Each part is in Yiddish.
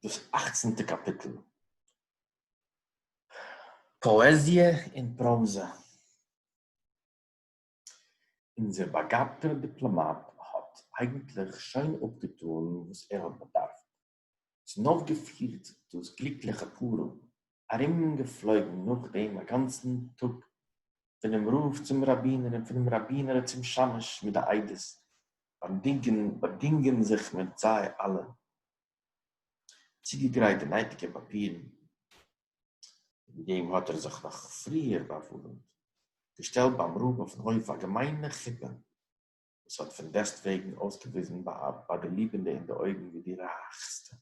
דאס אכצנטע קאפיטל. פאעזיע און פראזע. אונזער באגאבטער דיפלאמאט האט אייגנטליך שוין אפגעטאן וואס ער האט באדארפט, און אויפגעפירט דאס גליקליכע פארום ארום געפלויגן נאך דעם א גאנצן טאג, פונעם רב צום ראבינער און פונעם ראבינער צום שמש מיט די עדות, באדינגען באדינגען זיך מיט זיי אלע, צוגעגרייט די נייטיגע פאפירן, וועגן דעם האט ער זיך נאך פריער באווארעמט, געשטעלט ביים רב אויפן הויף א געמיינע חופה, וואָס האָט פֿון דעסטוועגן אויסגעוויזן בײַ די ליבענדע אין די אויגן ווי די רײַכסטע,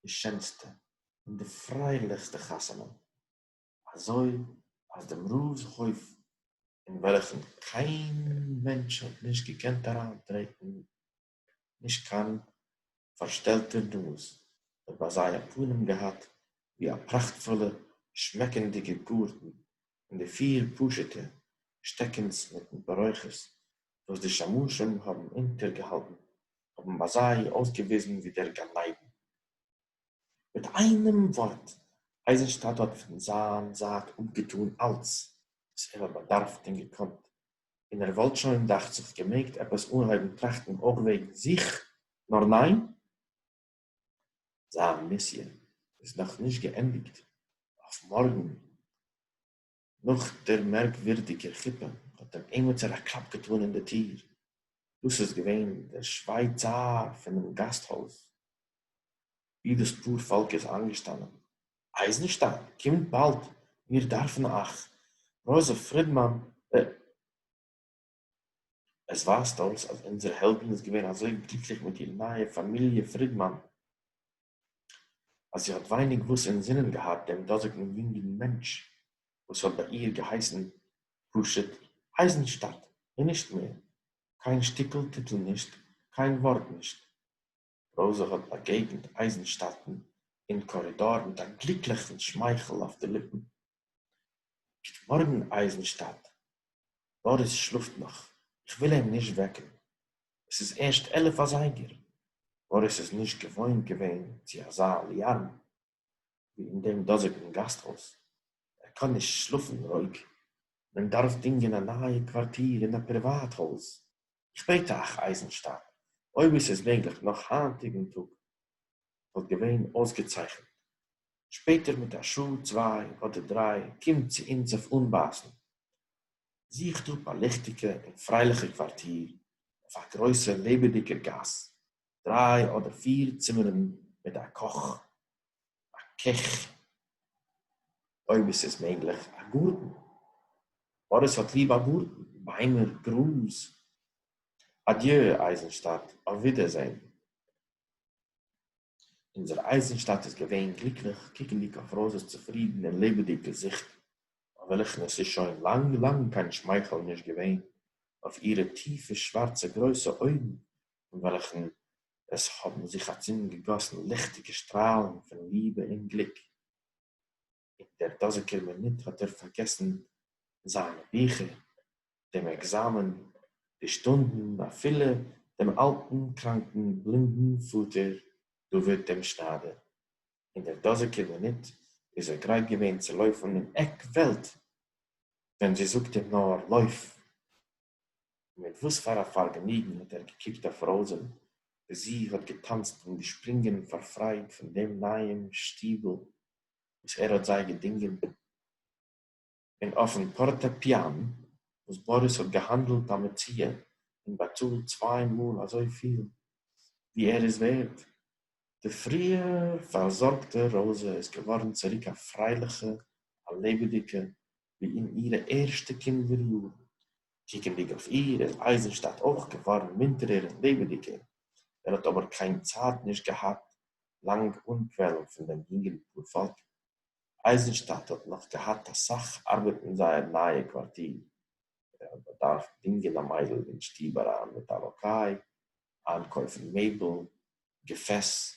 די שענסטע און די פֿריילעכסטע חתונה, אַזוי אַז דעם רבֿס הויף, אין וועלכן קיין מענטש האָט נישט געקענט אַרײַנטרעטן, נישט קיין פֿאַרשטעלטער נאָז, האָט בײַ זיי אַ פּנים געהאַט ווי אַ פּראַכטפֿולע, שמעקנדיקע גאָרטן, פון די פיר פשוטע שטעקענס מיטן בארויכערס וואס די שמשים האבן אונטערגעהאלטן האבן ביי זיי אויסגעוויזן ווי דער גן עדן. מיט איינעם ווארט, אייזנשטאדט האט פון זיין זייט אפגעטאן אלץ וואס ער האט באדארפט און געקאנט, און ער וואלט שוין דאכט זיך געמעגט עפעס אנהויבן טראכטן אויך וועגן זיך, נאר ניין, זיין מיסיע איז נאך נישט געענדיגט, אויף מארגן נאך דער מערקווירדיגער חופה האט דעם עימיצער א קלאפ געטאן אין די טיר, דאס איז געווען דער שווייצאר פונעם גאסט הויז, ווי דאס פאר פאלק איז איינגעשטאנען, אייזנשטיין, קומט באלד, מיר דארפן אייך, רויזע פרידמאן, ב. עס ווייזט אויס אז אונזער העלדין איז געווען אזוי גליקליך מיט איר נייע פאמיליע פרידמאן, אז זי האט ווייניג וואס אינזינען געהאט דעם דאזיגן יונגן מענטש וואס האט ביי איר געהייסן פשוט אייזנשטאדט און נישט מער, קיין שטיקל טיטל נישט, קיין ווארט נישט. ראָזע האָט באַגעגנט אײַזנשטאַטן אין קאָרידאָר מיט אַ גליקלעכן שמײכל אױף די ליפּן. גוט מאָרגן, אײַזנשטאַט! באָריס שלאָפֿט נאָך. איך װיל אים נישט װעקן. עס איז ערשט עלף אַזײגער. באָריס איז נישט געװאױנט געװען צו אַזאַ אַלאַרם. ווי אין דעם דאָזיקן גאַסטהויז. ער קאָן נישט שלאָפֿן רויִק. מען דאַרף דינגען אַ נײַע קוואַרטיר אין אַ פּריוואַט-הויז. שפּעט אַך, אײַזנשטאַט, אויב עס איז מעגלעך נאָך הײַנטיקן טאָג, וואָלט געווען אויסגעצייכנט. שפּעטער מיט אַ שעה, צוויי אָדער דרײַ, קומט צו אונדז אויף אָנבײַסן. זוכט אָפּ אַ ליכטיקע און פֿריילעכע קוואַרטיר אויף אַ גרויסער לעבעדיקער גאַס, דריי אדער פיר צימערן מיט א קאך, א קעך, אויב עס איז מעגליך א גארטן, מאריס האט ליב א גארטן, ביימער, גראז. אדיו אייזנשטאט, אויף ווידערזען. אונזער אייזנשטאט איז געווען גליקליך קוקנדיג אויף ראזע'ס צופרידן און לעבעדיג געזיכט, אויף וועלכן עס איז שוין לאנג לאנג קיין שמייכל נישט געווען, אויף אירע טיפע שווארצע גרויסע אויגן אין וועלכן עס האָבן זיך אַצונד געגאָסן ליכטיקע שטראַלן פֿון ליבע און גליק. אין דער דאָזיקער מינוט האָט ער פֿאַרגעסן זײַנע ביכער, דעם עקזאַמען, די שטונדן, אַפֿילו דעם אַלטן, קראַנקן, בלינדן פֿאָטער דוד דעם שנײַדער. אין דער דאָזיקער מינוט איז ער גרייט געווען צו לויפֿן אין עק וועלט, ווען זי זאָגט אים נאָר, לויף! מיט װאָס פֿאַר אַ פֿאַרגעניגן האָט ער געקוקט אױף ראָזען, װי זי האָט געטאַנצט און געשפּרונגען פֿאַר פֿרײד פֿון דעם נײַעם שטיבל, װאָס ער האָט זײ געדונגען! און אױפֿן פֿאָרטעפּיאַן, װאָס באָריס האָט געהאַנדלט אַ מציאה און באַצאָלט צװײ מאָל אַזױ פֿיל, װי ער איז װערט, די פֿריִער פֿאַרזאָרגטע ראָזע איז געװאָרן צוריק אַ פֿרײלעכע, אַ לעבעדיקע, ווי אין אירע ערשטע קינדער יארן. קוקנדיג אויף איר איז אייזנשטאט אויך געווארן מונטערער און לעבעדיגער, ער האט אבער קיין צייט נישט געהאט לאנג אנקוועלן פון דעם יונגן פארפאלק. אייזנשטאט האט נאך געהאט אסאך ארבעט אין זייער נייע קווארטיר, ער האט באדארפט דינגען א מיידל אין שטוב אריין מיט א לאקיי, איינקויפן מעבל, געפעס,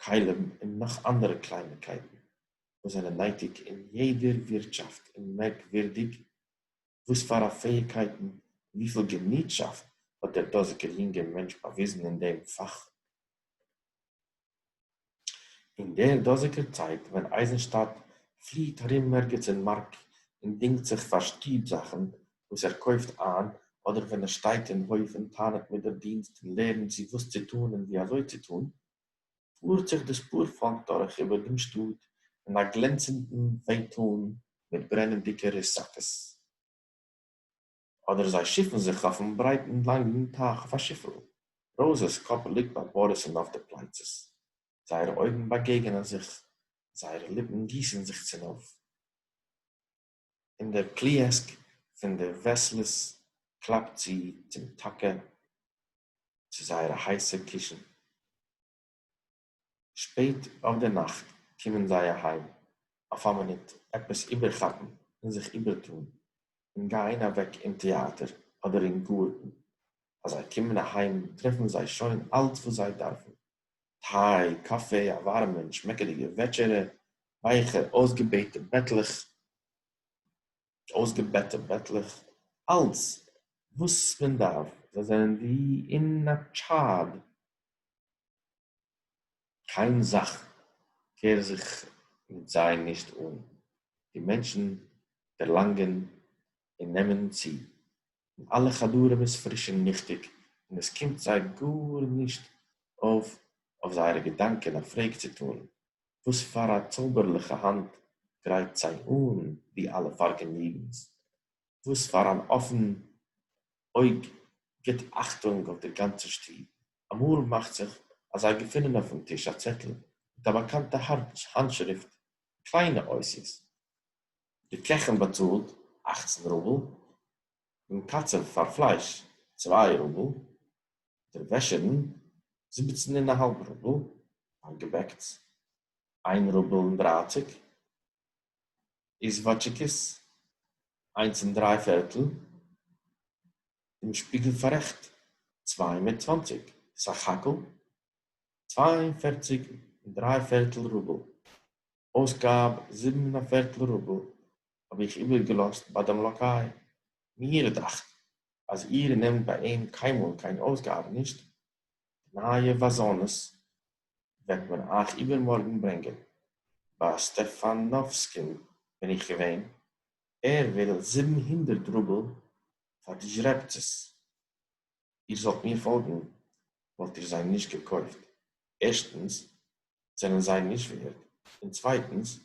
כלים און נאך אנדערע קלייניקייטן וואס זענען נייטיג אין יעדער ווירטשאפט און מערקווירדיג וואס פאר א פעאיגקייטן און וויפיל געניטשאפט האט דער דאזיגער יונגער מענטש באוויזן אין דעם פאך. אין דער דאזיגער צייט ווען אייזנשטאדט פליעט ארום ערגעץ אין מארק און דינגט זיך פאר שטוב זאכן וואס ער קויפט איין אדער ווען ער שטייט אין הויף און טענה'ט מיט דער דינסט און לערנט זי וואס צו טאן און ווי אזוי צו טאן, פארט זיך דאס פאר פאלק דורך איבער דעם שטאט אין א גלענצנדן פייטאן מיט ברענענדיקע רוסאקעס, אדער זיי שיפן זיך אויפן ברייטן לאנגן טייך אויף א שיפל. ראוזעס קאפ ליגט ביי באריס'ן אויף די פלייצעס, זייערע אויגן באגעגענען זיך, זייערע ליפן גיסן זיך צונויף. און דער פליעסק פון די וועסלס קלאפט צו צום טאקע צו זייערע הייסע קישן. שפעט אויף דער נאכט קומען זיי אהיים אויף א מינוט עפעס איבערכאפן און זיך איבערטאן, און גייען אוועק אין טעאטער אדער אין גארטן. אז זיי קומען אהיים טרעפן זיי שוין אלץ וואס זיי דארפן. טיי, קאפי, א ווארעמע און שמעקעדיגע וועטשערע, ווייכע אויסגעבעטע בעטלעך, אויסגעבעטע בעטלעך, אלץ וואס מען דארף, זיי זענען ווי אין א טשאד, קיין זאך קער זיך מיט זיי נישט אן, די מענטשן דערלאנגען און נעמען צו, און אלע חדרים איז פריש און ליכטיג און עס קומט זיי גארנישט אויף אויף זייערע געדאנקען א פרעג צו טאן וואס פאר א צויבערליכע האנט גרייט זיי אן די אלע פארגעניגנס, וואס פאר אן אפן אויג גיט אכטונג אויף דער גאנצער שטוב. אמאל מאכט זיך אז זיי געפינען אויפן טיש א צעטל מיט א באקאנטע האנטשריפט, קליינע אותיות, די קעכין באצאלט אַכצן רובל, דעם קצב פאר פלייש צוויי רובל, דער וועשערין זיבעצן און א האלב רובל, פאר געבעקטס איין רובל און דרייציג, איזוואטשיקעס איינס און דריי פערטל, דעם שפיגל פארעכט צוויי מיט צוואנציג, סך הכל צוויי און פערציג און דריי פערטל רובל. אויסגאב זיבן און א פערטל רובל האב איך איבערגעלאזט ביי דעם לאקיי, מיר דאכט אז איר נעמט ביי אים קיינמאל קיין אויסגאבע נישט, די נייע וואזאנעס וועט מען אייך איבערמארגן ברענגען, ביי סטעפאנאווסקין בין איך געווען, ער וויל זיבן הונדערט רובל פאר די זשרעבצעס. איר זאלט מיר פאלגן וואלט איר זיי נישט געקויפט, ערשטנס זענען זיי נישט ווערד, און צווייטנס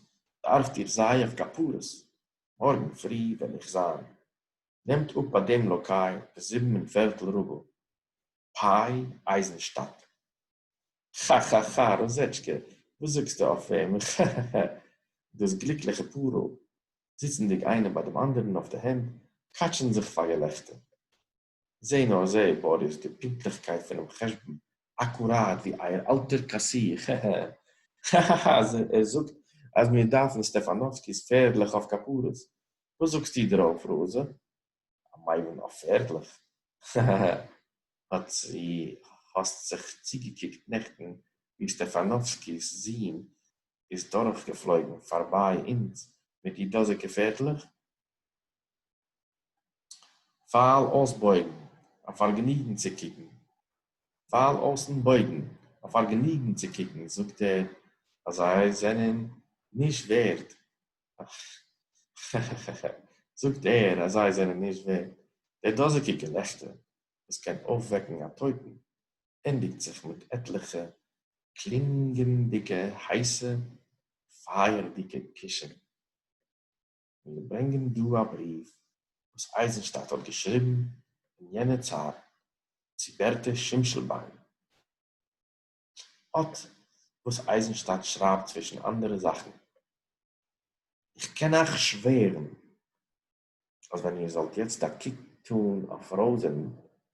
דארפט איר זיי אויף כפרות, מארגן פרי וועל איך זיין, נעמט אפ ביי דעם לאקאי די זיבן און פערטל רובל פיי אייזנשטאק. כאכאכא ראזעטשקע וואס זאגסטו אויף אים עכעכעכע דאס גליקליכע פארל זיצנדיג איינער ביי דעם אנדערן אויף די הענט קאטשען זיך פאר געלעכטער. זע נאר זע, באריס, די פונקטליכקייט פונעם חשבון, אקוראט ווי אייער אלטער קאסיר, הע הע הע הע הע, אז ער זאגט אז מיר דארפן סטעפאנאווסקי'ס פערדלעך אויף כפרות, וואס זאגסטו דערויף, ראזע? א מיימון אויף פערדלעך? הע הע הע, האט זי, האסט זיך צוגעקוקט נעכטן ווי סטעפאנאווסקי'ס זון איז דורכגעפלויגן פארביי אונז מיט די דאזיגע פערדלעך? פֿײַל אױס בױגן, אַ פֿאַרגעניגן צו קוקן. פֿײַל אױסן בױגן, אַ פֿאַרגעניגן צו קוקן, זאָגט ער, אַז זײ זענען נישט װערט. כאַ-כאַ-כאַ-כאַ-כאַ! זאָגט ער, אַז זײ זענען נישט װערט. דער דאָזיקע געלעכטער, װאָס קען אױפֿװעקן אַ טױטן, ענדיקט זיך מיט עטלעכע קלינגענדיקע הײסע פֿײַערדיקע קושן. און מיר ברענגען דא א בריוו וואס אייזנשטאט האט געשריבן אין יענע צייט צו בערטע שימשלביין. אט וואס אייזנשטאט שרייבט צווישן אנדערע זאכן. איך קען אייך שווערן אז ווען איר זאלט יעצט א קוק טאן אויף ראוזען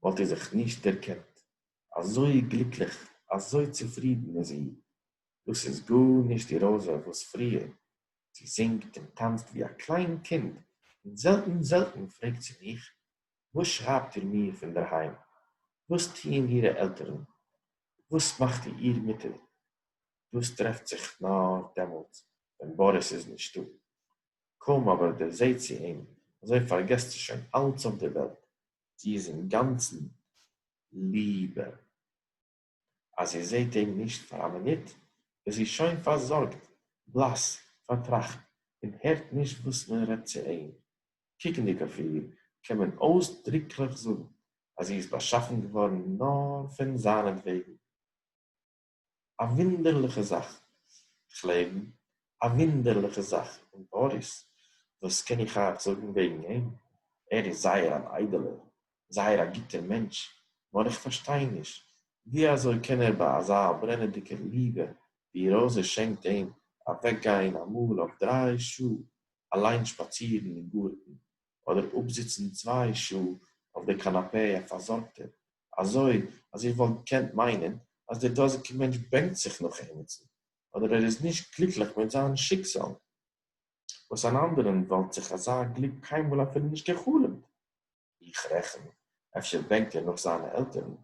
וואלט איר זיך נישט דערקענט, אזוי גליקליך, אזוי צופרידן איז זי. דאס איז גארנישט די ראוזע וואס פריער זי זינגט און טאַנצט װי אַ קלײן קינד און זעלטן-זעלטן פֿרעגט זי מיך, װאָס שרײַבט איר מיר פֿון דער הײם? װאָס טוען אירע עלטערן? װאָס מאַכט איר מוטער? דאָס טרעפֿט זיך נאָר דעמאָלט, װען באָריס איז נישטאָ. קױם אָבער דערזעט זי אים, אַזױ פֿאַרגעסט זי שױן אַלץ אױף דער װעלט. זי איז אינגאַנצן ליבע. אַז זי זעט אים נישט פֿאַר אַ מינוט, איז זי שױן פֿאַרזאָרגט, בלאַס, פֿאַרטראַכט און הערט נישט װאָס מען רעדט צו אים. קוקנדיק אױף איר, קאָן מען אױסדריקלעך זאָגן, אַז זי איז באַשאַפֿן געװאָרן נאָר פֿון זײַנעטװעגן. אַ װוּנדערלעכע זאַך, כ'לעבן, אַ װוּנדערלעכע זאַך! און באָריס? װאָס קען איך אײַך זאָגן װעגן אים? ער איז זײער אַן אײדעלער, זייער א גוטער מענטש, נאר איך פארשטיי נישט, ווי אזוי קען ער ביי אזא ברענעדיגער ליבע ווי ראזע שענקט אים, אוועק גיין אמאל אויף דריי שעה אליין שפאצירן אין גארטן, אדער אפזיצן צוויי שעה אויף די קאנאפעי א פארזארגטער, אזוי אז איך וואלט געקענט מיינען אז דער דאזיגער מענטש בענקט זיך נאך עימיצן, אדער ער איז נישט גליקליך מיט זיין שיקזאל, וואס אן אנדערען וואלט זיך אזא גליק קיינמאל אפילו נישט גע'חלומ'ט. איך רעכן, אפשר בענקט ער נאך זיינע עלטערן.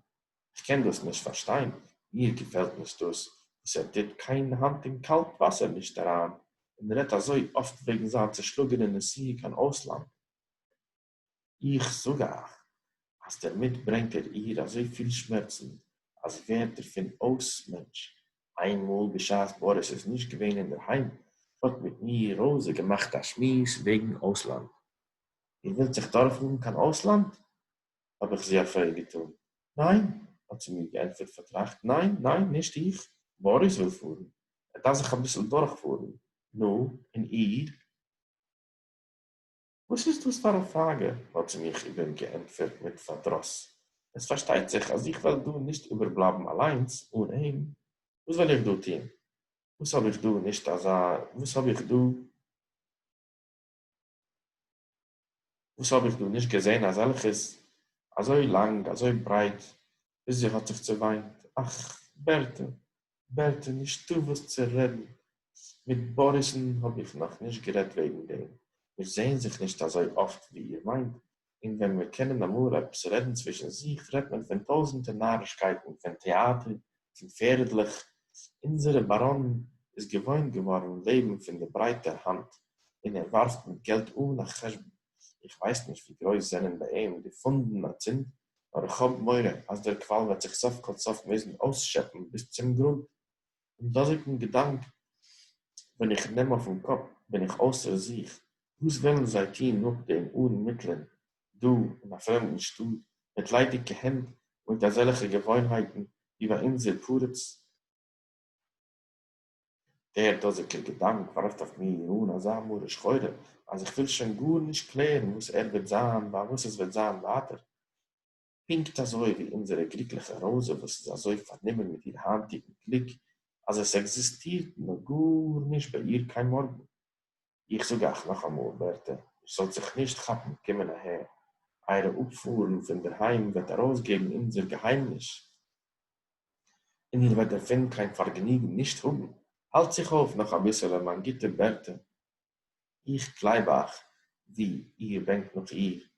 כ'קען דאס נישט פארשטיין, מיר געפעלט נישט דאס וואס ער טוט קיין האנט אין קאלט וואסער נישט אריין, און רעדט אזוי אפט וועגן זיין צעשלאגענע נסיעה קיין אויסלאנד. איך זאג אייך אז דערמיט ברענגט ער איר אזוי פיל שמערצן אז זי ווערט דערפון אויס מענטש. איינמאל בשעת באריס איז נישט געווען אינדערהיים האט מיט מיר ראזע געמאכט א שמועס וועגן אויסלאנד, איר ווילט זיך דורכפאָרן קיין אויסלאַנד? האָב איך זי אַ פֿרעג געטאָן. ניין, האָט זי מיר געענטפֿערט פֿאַרטראַכט, ניין, ניין, נישט איך. באָריס וויל פֿאָרן. ער דאַרף זיך אַ ביסל דורכפֿאָרן. נו, און איר? וואָס איז דאָס פֿאַר אַ פֿראַגע? האָט זי מיך איבער געענטפֿערט מיט פֿאַרדראָס. עס פֿאַרשטייט זיך, אַז איך וועל דאָ נישט איבערבלײַבן אַליינס אָן אים. וואָס וועל איך דאָ טאָן? וואָס האָב איך דאָ? נישט אַזאַ, וואָס האָב איך דאָ? וואס האב איך דא נישט געזען אזעלכעס, אזוי לאנג, אזוי ברייט, ביז זי האט זיך צעוויינט, אך, בערטע, בערטע, נישטא וואס צו רעדן, מיט באריס'ן האב איך נאך נישט גערעדט וועגן דעם, מיר זעען זיך נישט אזוי אפט ווי איר מיינט, און ווען מיר קענען אמאל עפעס רעדן צווישן זיך רעדט מען פון טויזענטער נארישקייטן, פון טעאטער צו פערדלעך, אונזערע באראן איז געוואוינט געווארן לעבן פון די ברייטע האנט און ער ווארפט מיט געלט אן א חשבון, איך ווייס נישט ווי גרויס זענען ביי אים די פאנדן אצינד, נאר איך האב מורא אז דער קוואל וועט זיך סוף כל סוף מוזן אויסשעפן ביז צום גרונט, דעם דאָזיקן געדאַנק ווען איך נעם אויפן קאָפּ, בין איך אויסער זיך, וואָס וועלן זיי טאָן נאָכדעם אָן מיטלען, דאָ, אין אַ פרעמדן שטאָט, מיט ליידיקע הענט און מיט אַזעלכע געוואוינהייטן, ווי ביי אונדזער פּרץ? דער דאָזיקער געדאַנק וואַרפט אויף מיר אָן אַזאַ מרה שחורה, אַז איך וויל שוין גאָר נישט קלערן, וואָס ער וועט זיין, ביי וואָס עס וועט זיין ווייטער. פונקט אזוי ווי אונזערע גליקליכע ראזע וואס איז אזוי פארנומען מיט איר היינטיגן גליק אז עס עקזיסטירט נאר גארנישט ביי איר קיין מארגן. איך זאג אייך נאכאמאל ווערטער, איר זאלט זיך נישט כאפן, קומען אהער, אייערע אפפארן פון דערהיים וועט ארויסגעבן אונזער געהיימניש און איר וועט דערפון קיין פארגעניגן נישט האבן. האלט זיך אויף נאך אביסעלע מיין גוטע ווערטער, איך גלייב אייך ווי איר בענקט נאך איר.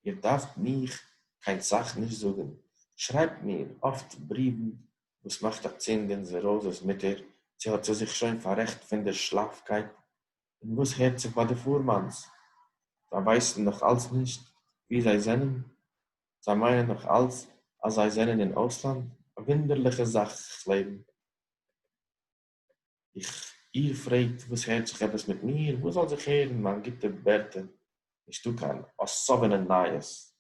איר דארפט מיך קיין סאך נישט זאגן, שרייבט מיר אפט בריוון וואס מאכט א צינג אין זעראזעס מוטער, צו האט זי זיך שוין פאררעכט פון דער שלאפקייט, און וואס הערט זיך ביי די פורמאנס, זיי ווייסן נאך אלץ נישט וואו זיי זענען, זיי מיינען נאך אלץ אז זיי זענען אין אויסלאנד, א וואונדערליכע זאך כ'לעבן. איך איר פרעגט וואס הערט זיך עפעס מיט מיר, וואס זאל זיך הערן מיין גוטע ווערטער, נישטא קיין אסאווענע נייעס,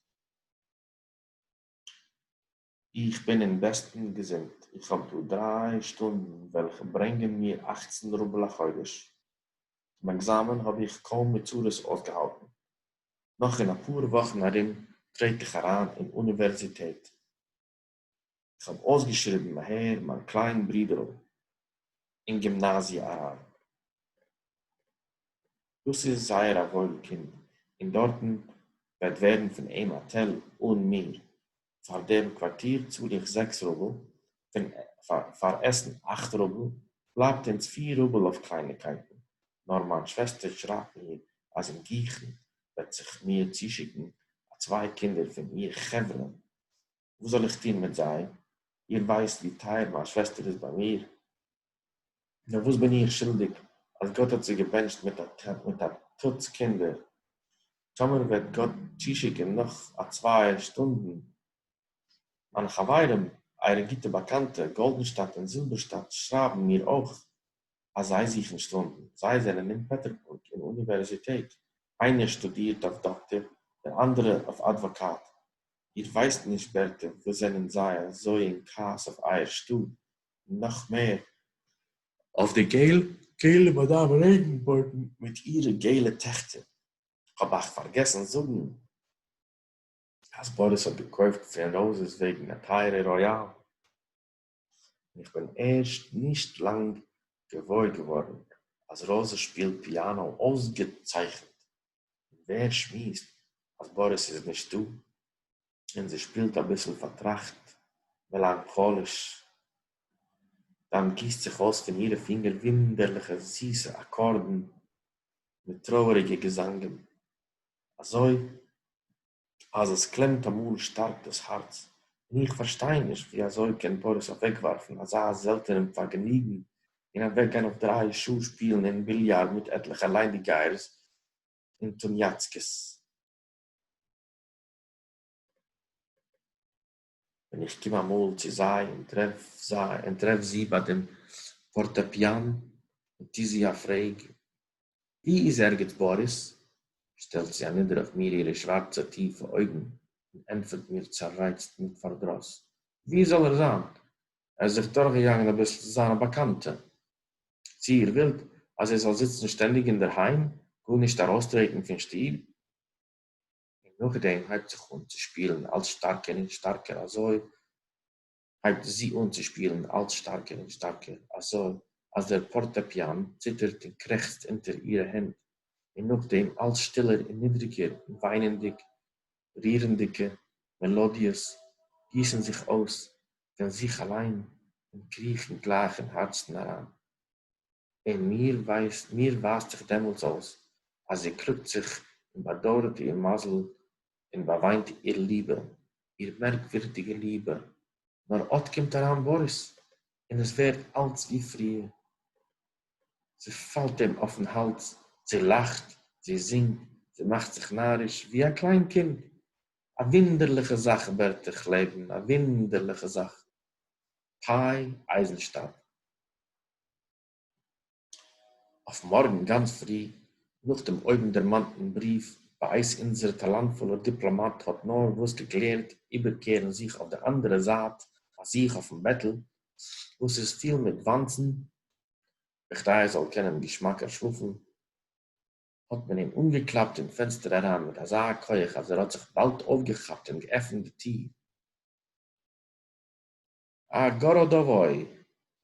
איך בין אין בעסטן געזונט, איך האב דא דריי שטונדן וועלכע ברענגען מיר אכצן רובל א חודש, צום עקזאמען האב איך קוים מיט צרות אויסגעהאלטן, נאך אין אפאר וואכן ארום טרעט איך אריין אין אוניווערזיטעט. איך האָב אױסגעשריבן, הער, מײַן קלײן ברודערל, אין גימנאַזיע אַרײַן. דאָס איז זײער אַ װױל קינד, און דאָרטן װעט װערן פֿון אים אַ תּל, אָן מיר. פֿאַר דעם קװאַרטיר צאָל איך זעקס רובל, פֿון פֿאַר עסן אַכט רובל, בלײַבט אונדז פֿיר רובל אױף קלײניקײטן, נאָר מײַן שװעסטער שרײַבט מיר, אַז אין גיכן װעט זיך מיר צושיקן אַ צװײ קינדער פֿון איר חבֿרה, וואס זאל איך טון מיט זיי? איר ווייסט ווי טייער מיין שוועסטער איז ביי מיר, נאר וואס בין איך שולדיג אז גאט האט זי געבענטשט מיט א טוץ קינדער? טאמער וועט גאט צושיקן נאך א צוויי שטונדן, מיינע חברים, אייערע גוטע באקאנטע, גאלדענשטאט און זילבערשטאט שרייבן מיר אויך אז זיי זוכן שטונדן, זיי זענען אין פעטערבורג אין אוניווערזיטעט, איינער שטודירט אויף דאקטער, דער אנדערע אויף אדוואקאט, איר ווייסט נישט בערטער וואס זענען זיי אזוי אין כעס אויף אייער שטאט און נאך מער אויף די געל געלע מאדאם רעגנבויגן מיט אירע געלע טעכטער, כ'האב אייך פארגעסן זאגן אז באריס האט געקויפט פרענאוזעס וועגן א טייערע ראיאל. און איך בין ערשט נישט לאנג געוואויר געווארן אז ראזע שפילט פיאנא אויסגעצייכנט, און ווער שמועסט אז באריס איז נישטא, און זי שפילט אביסל פארטראכט, מעלאנכאליש, דאן גיסט זיך אויס פון אירע פינגער וואונדערליכע זיסע אקארדן מיט טרויעריגע געזאנגען, אזוי אז עס קלעמט אמאל שטארק דאס הארץ, און איך פארשטיי נישט ווי אזוי קען פאריס אוועקווארפן אזא זעלטענעם פארגעניגן און אוועקגיין אויף דריי שעה שפילן אין ביליארד מיט עטליכע ליידיגייערס און טוניאצקעס. ווען איך קום אמאל צו זיי און טרעף זיי און טרעף זי ביי דעם פארטעפיאן און טו זי א פרעג ווי איז ערגעץ באריס שטעלט זי אנידער אויף מיר אירע שווארצע טיפע אויגן און ענטפערט מיר צערייצט מיט פארדרוס ווי זאל ער זיין ער איז זיך דורכגעגאנגען אביסל צו זיינע באקאנטע צו איר ווילט אז ער זאל זיצן שטענדיג אינדערהיים גארנישט ארויסטרעטן פון שטוב. און נאכדעם הייבט זיך אן צו שפילן אלץ שטארקער און שטארקער אזוי הייבט זי אן צו שפילן אלץ שטארקער און שטארקער אזוי אז דער פארטעפיאן ציטערט און קרעכצט אונטער אירע הענט און נאכדעם אלץ שטילער און נידריגער און וויינענדיג רירנדיגע מעלאדיעס גיסן זיך אויס פון זיך אליין און קריכן גלייך אין הארצן אריין. און מיר ווייסט מיר ווייזט זיך דעמאלטס אויס אז איר קלאגט זיך און באדויערט איר מזל און באוויינט איר ליבע, איר מערקווירדיגע ליבע, נאר אט קומט אריין באריס און עס ווערט אלץ ווי פריער. זי פאלט אים אויפן האלדז, זי לאכט, זי זינגט, זי מאכט זיך נאריש ווי א קליין קינד. א וואונדערליכע זאך ווערט איך לעבן, א וואונדערליכע זאך. פיי אייזנשטאט. אויף מארגן גאנץ פרי, נאך דעם אויבנדערמאנטן בריוו, בעת אונזער טאלאנטפולער דיפלאמאט האט נארוואס געקלערט איבערקערן זיך אויף די אנדערע זייט ביי זיך אויפן בעטל, וואס איז פיל מיט וואנצן, בכדי ער זאל קענען געשמאקער שלאפן, האט מען אים אנגעקלאפט אין פענסטער אריין מיט אזא כח אז ער האט זיך באלד אויפגעכאפט און געעפנט די טיר. א גאראדאוואוי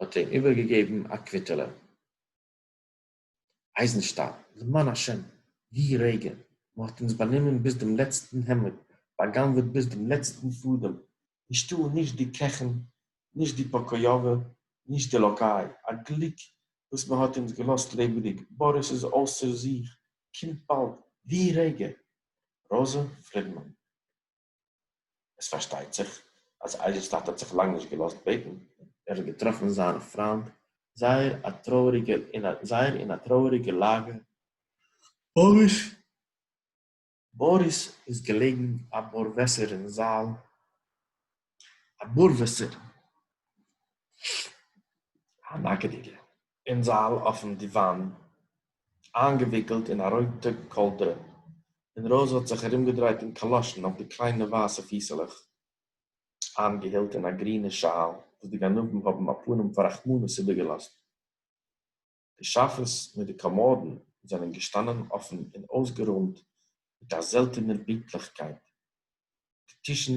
האט אים איבערגעגעבן א קוויטעלע. אייזנשטאם, למען השם, ווי רגע, מען האט אונז באנומען ביז דעם לעצטן העמד, בא'גנב'עט ביז דעם לעצטן פאדעם, נישטא נישט די קעכן, נישט די פאקאיאווע, נישט די לאקאי, א גליק וואס מען האט אונז געלאזט לעבעדיג, באריס איז אויסער זיך, קומט באלד, ווי רגע! ראזע פרידמאן. עס פארשטייט זיך אז אייזיס טאטע האט זיך לאנג נישט געלאזט בעטן, ער האט געטראפן זיין פריינד זייער א טרויעריגע אין א זייער אין א טרויעריגע לאגע, באריס באריס איז געלעגן א בארוועסער אין זאל, א בארוועסער, א נאקעדיגע. אין זאַל אױפֿן דיװאַן, אײַנגעװיקלט אין אַ רױטע קאָלדרע, און ראָזע האָט זיך אַרומגעדרײט און קאַלאָשן אױף די קלײנע װײַסע פֿיסעלעך, אײַנגעהילט אין אַ גרינע שאַל, װאָס די גנבֿים האָבן אַ פּנים פֿאַר רחמנות איבערגעלאָזט. די שאַפֿעס מיט די קאָמאָדן זענען געשטאַנען אָפֿן און אױסגערױמט מיט אַ זעלטענער פּינקטלעכקײט, די טישן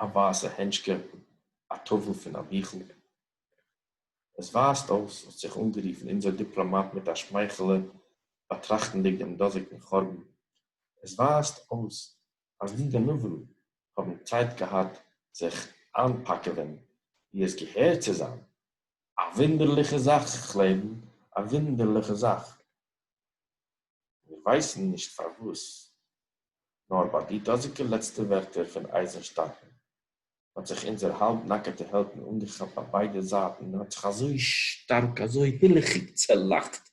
א ווייסע הענטשקע, א טאוול פון א ביכל. עס ווייזט אויס, האט זיך אנגערופן אונזער דיפלאמאט מיט א שמייכעלע, באטראכטנדיג דעם דאזיגן חורבן, עס ווייזט אויס אז די גנבים האבן צייט געהאט זיך איינפאקעווען ווי עס געהער צו זיין. א וואונדערליכע זאך, כ'לעבן, א וואונדערליכע זאך. מיר ווייסן נישט פארוואס, נאר ביי די דאזיגע לעצטע ווערטער פון אייזענשטאקן, האט זיך אונזער האלב נאקעטע העלדן אנגעכאפט ביי ביידע זייטן און האט זיך אזוי שטארק, אזוי הילכיג צעלאכט,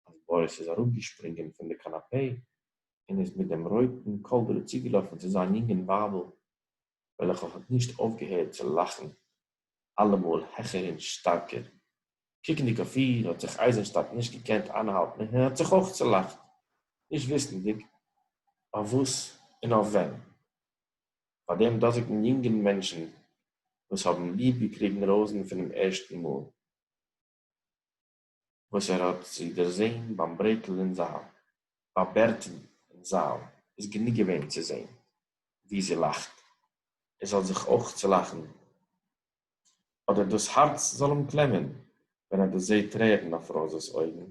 אז באריס איז אראפגעשפרינגען פון די קאנאפעי און איז מיט דעם רויטן קאלדרע צוגעלאפן צו זיין יונגן ווייבל, וועלכע האט נישט אויפגעהערט צו לאכן אלעמאל העכער און שטארקער. קוקנדיג אויף איר האט זיך אייזענשטאט נישט געקענט איינהאלטן און ער האט זיך אויך צולאכט, נישט וויסנדיג אויף וואס און אויף ווען. פאר דעם דאזיגן יונגן מענטשן וואס האבן ליב געקריגן ראוזן פונעם ערשטן מאל. וואָס ער האָט זי דערזען בײַם ברעטל אין זאַל. בײַ בערטן אין זאַל איז גענוג געווען צו זען, ווי זי לאַכט, ער זאָל זיך אויך צעלאַכן, אָדער דאָס האַרץ זאָל אים קלעמען, ווען ער דערזעט טרערן אויף ראָזעס אויגן.